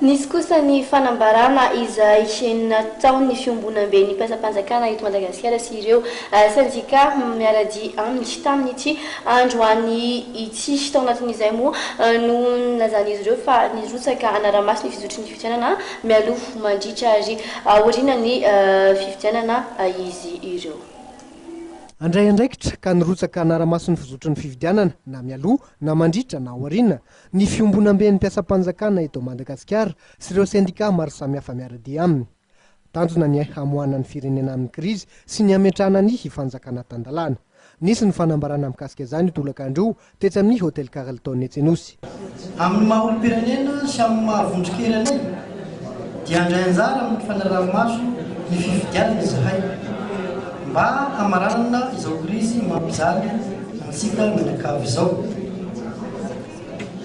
Nisy kosa ny fanambarana izay nataon'ny fiombonamben'ny mpiasam-panjakana eto Madagasikara sy ireo sendika miara-dia aminy tamin'ity androany ity. Tao anatin'izay moa no nilazan'izy ireo fa nirotsaka hanara-maso ny fizotry ny fifidianana mialoha, mandritra ary aorianan'ny fifidianana izy ireo. Handray andraikitra ka nirotsaka hanara-maso ny fizotry ny fifidianana na mialoha na mandritra na aoriana ny fiombonamben'ny mpiasam-panjakana eto Madagasikara sy ireo sendikà maro samihafa miara-dia aminy. Tanjona ny hamoahana ny firenena amin'ny krizy sy ny hametrahana ny fanjakana tan-dalàna. Nisy ny fanambarana mikasika izany io tolakandro io tetsy amin'ny Hotel Carlton etsy Anosy. Amin'ny maha olom-pirenena sy amin'ny maha vondron-kery anay dia handray anjara amin'ny fanaraha-maso ny fifidianana izahay mba hamaranana izao krizy mampijaly antsika mianakavy izao.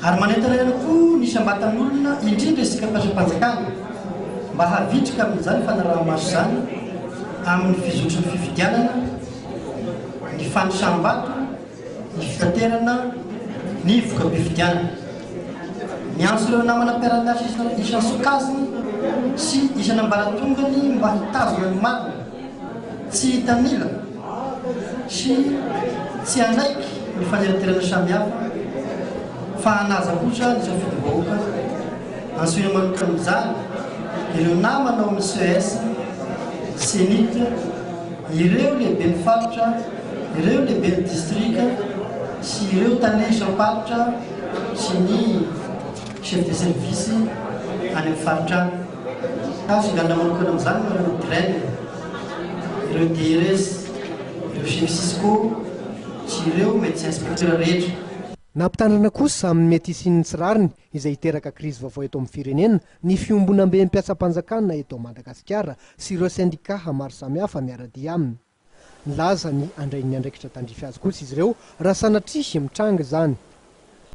Ary manentana ihany koa ny isam-batan'olona, indrindra isika mpiasam-panjakana, mba havitrika amin'izany fanaraha-maso izany amin'ny fizotry ny fifidianana, ny fanisam-bato, Ny fitaterana ny voka-pifidianana. Miantso ireo namana mpiara-miasa isan'ny sokajiny sy isan'ambaratongany mba hitazona ny marina, tsy hitanila sy tsy hanaiky ny faniratirana samihafa fa hanaja kosa ny safidim-bahoaka. Antsoina manokana amin'izany ireo namana ao amin'ny ces, Cenit, ireo lehiben'ny faritra, Ireo lehiben'ny distrika sy ireo tale isam-paritra sy ny chef de service any amin'ny faritra any. Ka figaninana manokana amin'izany no ireo DREL, ireo DRS, ireo chef cisco sy ireo médecin inspecteur rehetra. Nampitandrina kosa amin'ny mety hisian'ny tsy rariny izay hiteraka krizy vaovao eto amin'ny firenena ny fiombonamben'ny mpiasam-panjakana eto Madagasikara sy ireo sendikà maro samihafa miara-dia aminy. Nilaza ny handray ny andraikitra tandrify azy kosa izy ireo raha sanatria mitranga izany.